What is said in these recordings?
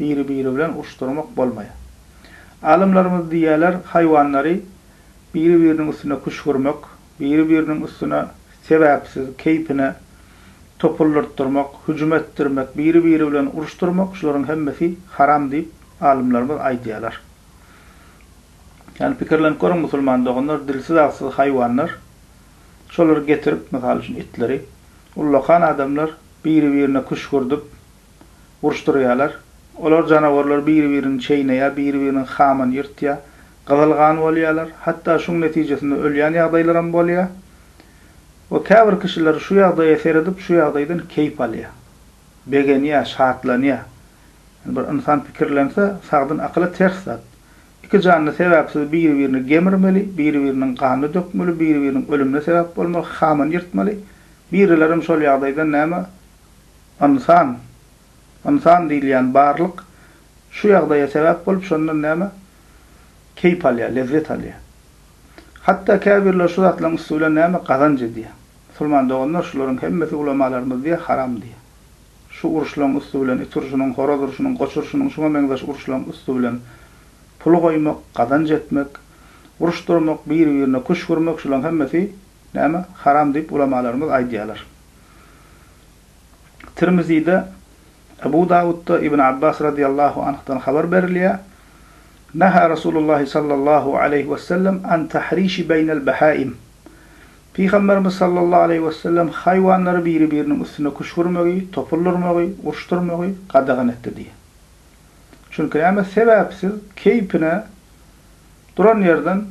biri-biri bilen uruşdyrmak bolmaýar. Alymlarymyz diýýärler, haýwanlary biri-biriniň üstüne küşgürmek, biri-biriniň üstüne sebäpsiz, keýpine topuldyrtdyrmak, hüjüm etdirmek, biri-biri bilen uruşdyrmak, şularyň hemmesi haram diýip, alymlarymyz aýdýarlar. Ýagny pikirlenip görüň, musulman doganlar, dilsiz-agsyz haýwanlar, şolary getirip, mysal üçin, itleri, ullakan adamlar biri-birine küşgürdip, uruşdyrýarlar. Olar janawarlar biri-birini çeýneýär, biri-biriniň hamyny ýyrtýar, gyzyl gan bolýarlar, hatda şuň netijesinde ölýän ýagdaýlaram bolýar. We käbir kişiler şu ýagdaýa seredip, şu ýagdaýdan keýp alýar. Begenýär, şatlanýar. Ýöne bir ynsan pikirlense, sagdyn akyla ters zat. Iki janly sebäpsiz biri-birini gemirmeli, biri-biriniň ganyny dökmeli, biri-biriniň ölümine sebäp bolmaly, hamyny ýyrtmaly. Birilerem şol ýagdaýdan näme Ynsan, ynsan diýilýän barlyk şu ýagdaýa sebäp bolup, şondan näme? Keýp alýar, lezzet alýar. Hatda käbirleri şu zatlaryň üsti bilen näme? Gazanç edýär. Musulman doganlar, şularyň hemmesi ulamalarymyz diýýär, haram diýýär. Şu uruşlaryň üsti bilen, it urşunyň, horaz urşunyň, goç urşunyň, şuňa meňzeş uruşlaryň üsti bilen pul goýmak, gazanç etmek, uruşdyrmak, biri-birine küşgürmek, şularyň hemmesi näme? Haram diýip, ulamalarymyz aýdýarlar. Tirmizide, Ebu Dawudda Ibn Abbas radyýallahu anhdan habar berilýär, Nahä Rasulullah sallallahu aleýhi wesellem an tahriş beýnel behaim, Pygamberimiz sallallahu aleýhi wesellem haýwanlary biri-biriniň üstüne küşgürmegi, topuldyrmagy, urşdyrmagy gadagan etdi diýýär. Çünki näme sebäpsiz keýpine duran ýerden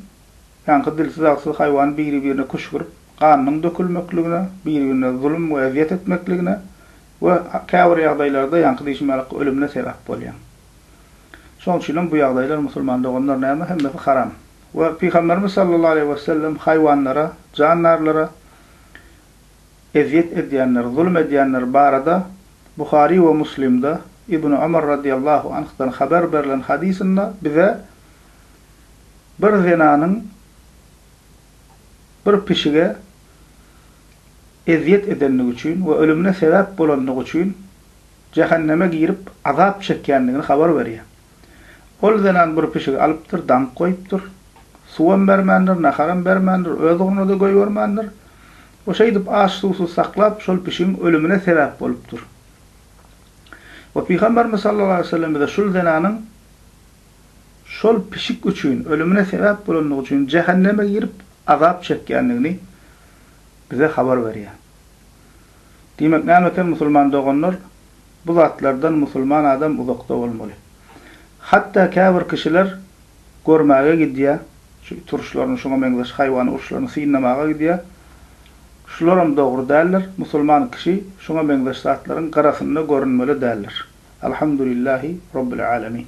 Ýaňky dilsiz-agsyz haýwan biri-birine küşgürip, ganynyň dökülmekligine, biri-birine zulum we ezýet etmekligine we käbir ýagdaýlarda ýaňky diýşim ýaly ölümine sebäp bolýar. Şonuň üçin hem bu ýagdaýlar musulman doganlar näme hemmesi haram. We Pygamberimiz sallallahu aleýhi we sellem haýwanlara, jandarlara ezýet edýänler, zulum edýänler barada Buhary we Muslimde Ibn Omar radiyallahu anhdan haber berlen hadysynda bize, bir zenanyň bir pişige ezýet edendigi üçin we ölümine sebäp bolandygy üçin jähenneme girip azap çekýändigini habar berýär. Ol zenan bir pişigi alypdyr, daňyp goýupdyr. Suwam bermändir, naharam bermändir, öz ugruna-da goýbermändir. O şeýdip aç-suwsuz saklap, şol pişigiň ölümine sebäp bolupdyr. We Pygamberimiz sallallahu aleýhi we sellem bize şul zenanyň, şol pişik üçin, ölümine sebäp bolandygy üçin jähenneme girip azap çekýändigini bize habar berýär. Diýmek, näme eken musulman doganlar, bu zatlardan musulman adam uzakda bolmaly. Hatda käbir kişiler görmäge gidýär, şu it uruşlaryny, şuňa meňzeş haýwan uruşlaryny synlamaga gidýär. Şularam dogry däldir, musulman kişi şuňa meňzeş zatlaryň gyrasynda görünmeli däldir. Alhamdulillahi Robbil Alemin.